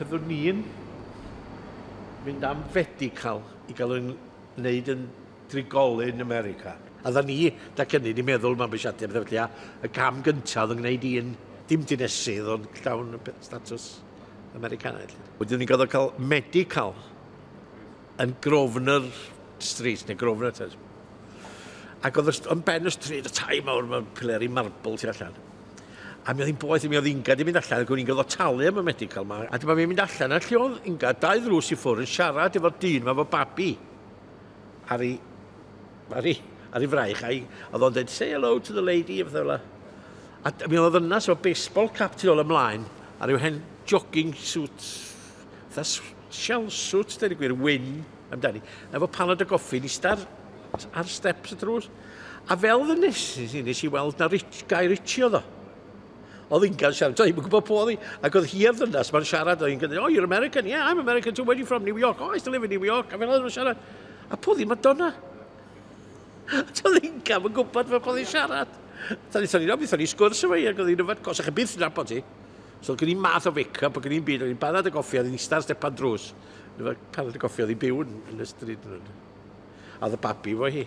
Byddwn ni'n mynd am fedical i gael yn wneud yn drigolyn America. A dda ni, da cynnydd, ni'n meddwl mae'n bysiadu am ddefydlia, y cam gyntaf oedd yn gwneud i'n dim dinesydd ond llawn statws Americanaidd. Wedyn ni'n goddod cael medical. yn Grosvenor Street, neu Grosvenor Terrace. Ac oedd yn ben y stryd, y tai mawr, mae'n pileri marble tu allan. A mi oedd hi'n boeth, mi oedd Inga di mynd allan, ac o'n i'n gyfod talu am y medical yma. A dyma fi'n mynd allan, a lle oedd Inga, dau ddrws i ffwrdd, yn siarad efo'r dyn yma fo babi. Ar ei, ar ei, ar ei fraich, a oedd o'n dweud, say hello to the lady, a fath A mi oedd yna, so baseball cap tu ôl ymlaen, ar yw hen jogging suit Tha sial swt, dweud y gwir, wyn amdani. Efo panad o goffi, ni star ar steps y drws. A fel ddynes i, nes i weld na rich, gair richi oedd o. Oedd hi'n gael siarad, oedd hi'n gwybod po oedd hi. Ac oedd hi ar ddynas, mae'n siarad, oedd hi'n gwneud, oh, you're American, yeah, I'm American too, where are you from, New York, oh, I still live in New York, a fel oedd hi'n siarad. A po oedd hi'n Madonna. Oedd hi'n gael, mae'n gwybod fel po oedd hi'n siarad. Tani, tani, no, beth o'n i sgwrs efo hi, ac oedd hi'n yfed, cos ych byth yn nabod hi. So gen i math o wake up, ac yn un byd, o'n i'n barod y goffi, oedd hi'n eistedd ar stepan drws. O'n i'n barod y goffi, oedd hi'n byw yn, yn y stryd. A oedd y babi fo hi.